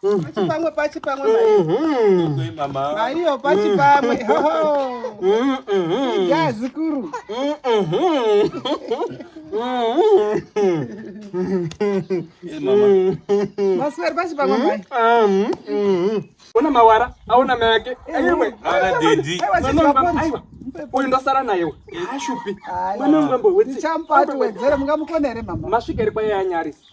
pachipamwe pachipamwe maiyo pachipamwe ya zikuru masweri pachipamwe mai ona mawara aona mai ake aiwa aiwa uyu ndosara naye ashupi mwana wangu ambohwetsi champati wedzere mungamukonere mama masvika iri kwaye anyarisa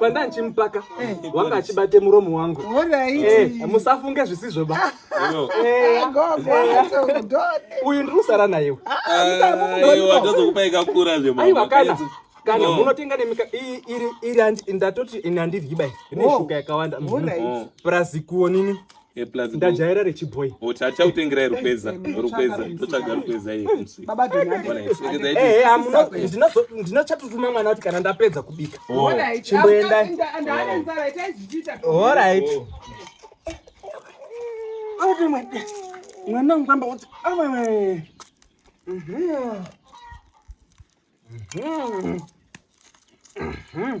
pandanchi mupaka wanga achibate muromo wangu musafunge zvisizvo ba uyu ndiri kusara nayewo aiwa kana kana oh. munotenga nemika iri ndatoti ini handiryi bai ine oh. shuka yakawanda oh. mm. plus kuonini Eh, ndajaira rechiboy tichakutengerai rukweza rukweza totsvaga rukweza ndinochatutuma mwana kuti kana ndapedza kubika oh. chimboendai orit mwana wangu kwamba kuti awewe mhm. Mhm. Mhm.